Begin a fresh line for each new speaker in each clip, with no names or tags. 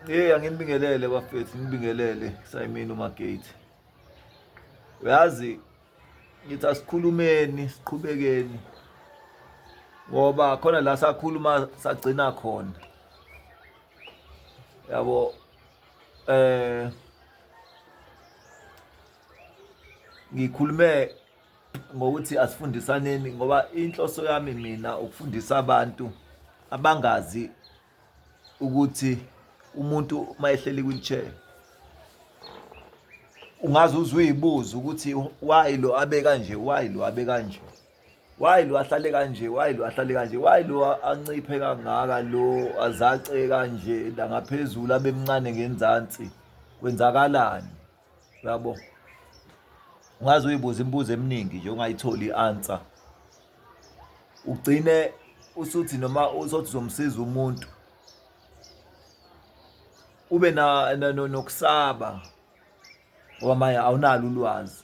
Hey anginibingelele bafethu ngibingelele sayimini umagate uyazi ngithi asikhulumeni siqhubekeni ngoba khona la sakhuluma sagcina khona yabo eh ngikhulume ngokuthi asifundisaneni ngoba inhloso yami mina ukufundisa abantu abangazi ukuthi umuntu uma ehleli kwi-wheelchair ungaze uze uyibuze ukuthi why lo abe kanje why lo abe kanje why lo ahlale kanje why lo ahlale kanje why lo anciphe kangaka lo azace kanje la ngaphezulu abe mncane ngenzansi kwenzakalani yabo ungaze uyibuza imibuzo eminingi nje ungayitholi i-answer ugcine usuthi noma uzothi uzomsiza umuntu ube na nokusaba ngoba manje awunalo ulwazi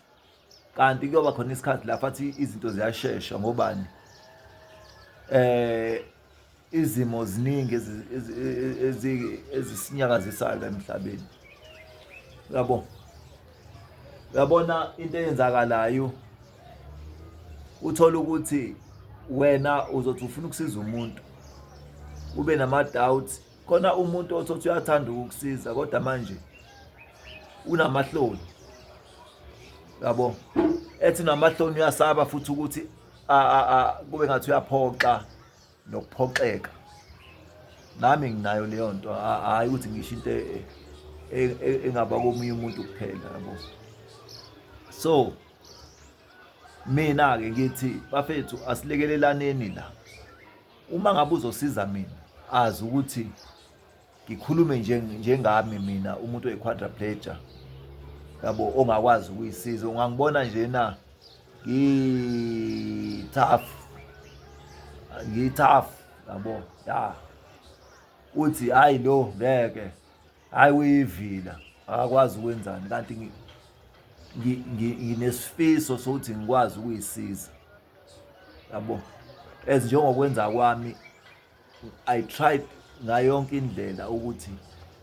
kanti kuyoba khona isikhathi la fathi izinto ziyashesha ngobani eh Izimo ziningi ezisinyakazisayo la emhlabeni. Uyabo? Uyabona into eyenzakalayo uthola ukuthi wena uzothi ufuna ukusiza umuntu ube nama-doubt khona umuntu othothi uyathanda ukukusiza kodwa manje unamahloni yabo ethi unamahloni uyasaba futhi ukuthi kube ngathi uyaphoxa nokuphoxeka nami nginayo leyo nto hhayi ukuthi ngisho into e, e, e, engaba komunye umuntu kuphela yabo so mina-ke ngithi bafethu asilekelelane la uma ngabe uzosiza mina azi ukuthi ngikhulume nje njengami mina umuntu oyiquadriplegia yabo ongakwazi ukuyisiza ungangibona nje na ngithafu ngithafu yabo ya uthi hayi lo ngeke hayi uyivila akakwazi ukwenzani kanti nginesifiso sokuthi ngikwazi ukuyisiza yabo as njengokwenza kwami I tried ngayo yonke indlela ukuthi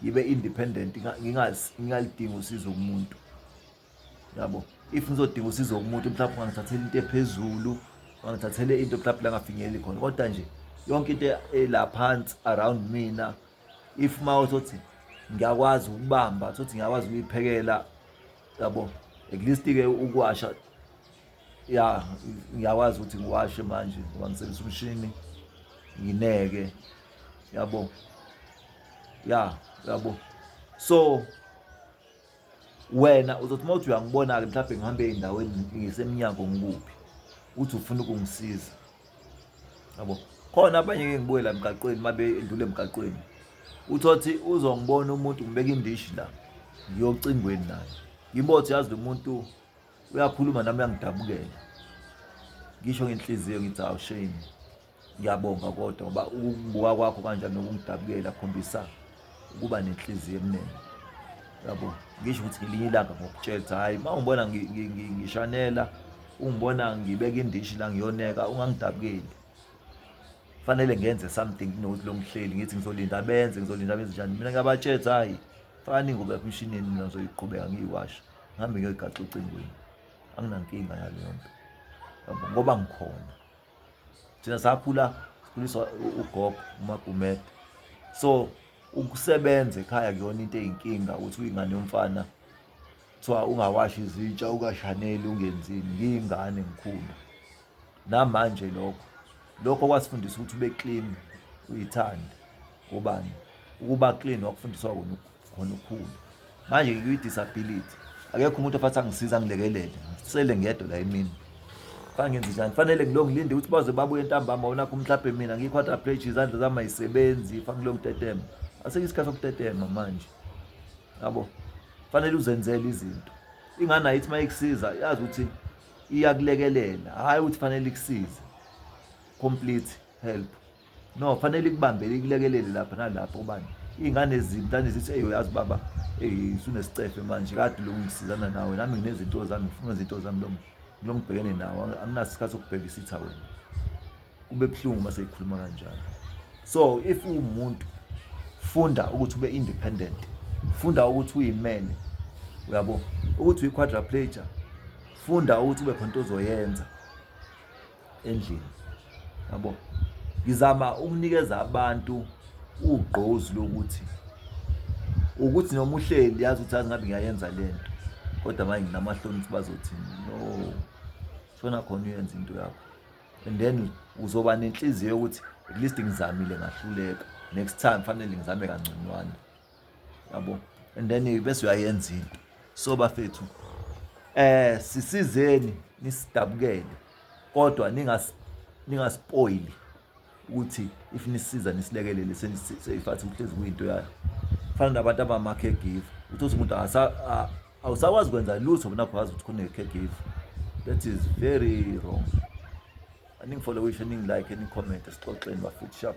ngibe independent ngingalidingi usizo kumuntu yabo if ngizodinga usizo kumuntu mhlawumbe ungangithathela into ephezulu ungangithathele into mhlawumbe la ngafinyeleli khona kodwa nje yonke into ela phansi around mina if ma uthothi ngiyakwazi ukubamba uthothi ngiyakwazi ukuyiphekela yabo at least-ke ukuwasha ya ngiyakwazi ukuthi ngiwashe manje ngoba ngisebenzisa umshini ngineke yabo ya yabo so wena uzothi uma uthi uyangibona-ke mhlawumbe ngihambe ey'ndaweni ngisemnyango ngikuphi uthi ufuna ukungisiza yabo khona abanye-ke ngibuye la emgaqweni uma bendlule emgaqweni uthothi uzongibona umuntu ngibeka indishi la ngiyocingweni naye ngimbothi yazi lo muntu uyakhuluma nami uyangidabukela ngisho ngenhliziyo ngithi awu shame ngiyabonga kodwa ngoba ukubuka kwakho kanjani nokungidabukela khombisa ukuba nenhliziyo emnene yabo ngisho ukuthi ngelinye ilanga ngokutshela hayi uma ungibona ngishanela ungibona ngibeka indishi la ngiyoneka ungangidabukeli fanele ngenze something kunokuthi lo mhleli ngithi ngizolinda benze ngizolinda benze njani mina ngiyabatshela hayi fani ngoba emshinini mina ngizoyiqhubeka ngiyiwasha ngihambe ngiyoyigaxa ocingweni anginankinga yaleyo nto ngoba ngikhona thina sakhula sikhuliswa ugogo umagumede so ukusebenza ekhaya kuyona into eyinkinga ukuthi uyingane yomfana kuthiwa ungawashi izitsha ukashaneli ungenzini ngiyingane ngikhulu namanje lokho lokho kwasifundisa ukuthi ube clean uyithande ubani ukuba clean wakufundiswa wona khona ukhulu manje ngikwi-disability akekho umuntu ofathi angisiza angilekelele ngisele ngedwa la emini fangenze njani fanele ngilo ngilinde ukuthi baze babuye ntambama wona kho mhlawumbe mina ngiyi-quadrapleji izandla zami ayisebenzi fangilo ngitetema asekho isikhathi sokutetema manje yabo fanele uzenzele izinto ingane ayithi uma ikusiza yazi ukuthi iyakulekelela hhayi ukuthi fanele ikusize complete help no kufanele ikubambele ikulekelele lapha nalapha ubani iy'ngane ezinto anezithi eyi uyazi baba eyi sunesicefe manje kade lokhu ngisizana nawe nami nginezinto zami ngifuna izinto zami lo lo ngibhekene nawo anginaso isikhathi sokubheka isitha wena kube buhlungu uma seyikhuluma kanjalo so if uwumuntu funda ukuthi ube independent funda ukuthi uyimele uyabo ukuthi uyi-quadraplager funda ukuthi ube khona into ozoyenza endlini yabo ngizama ukunikeza abantu ugqozi lokuthi ukuthi noma uhleli yazi ukuthi azingabe ngiyayenza le nto kodwa manje nginamahloni ukuthi bazothini no shona khona uyenza into yakho and then uzoba nenhliziyo yokuthi at least ngizamile ngahluleka next time fanele ngizame kangconywana yabo and then bese uyayenza into so bafethu eh sisizeni nisidabukele kodwa ningas ningaspoili ukuthi if nisiza nisilekelele seniseyifathi uhlezi kuyinto yayo fana nabantu abama caregiver uthothi umuntu awusakwazi kwenza lutho bona kwazi ukuthi kune caregiver that is very wrong aningifollowishe ningi like ni comment esixoxeni bafethu sharp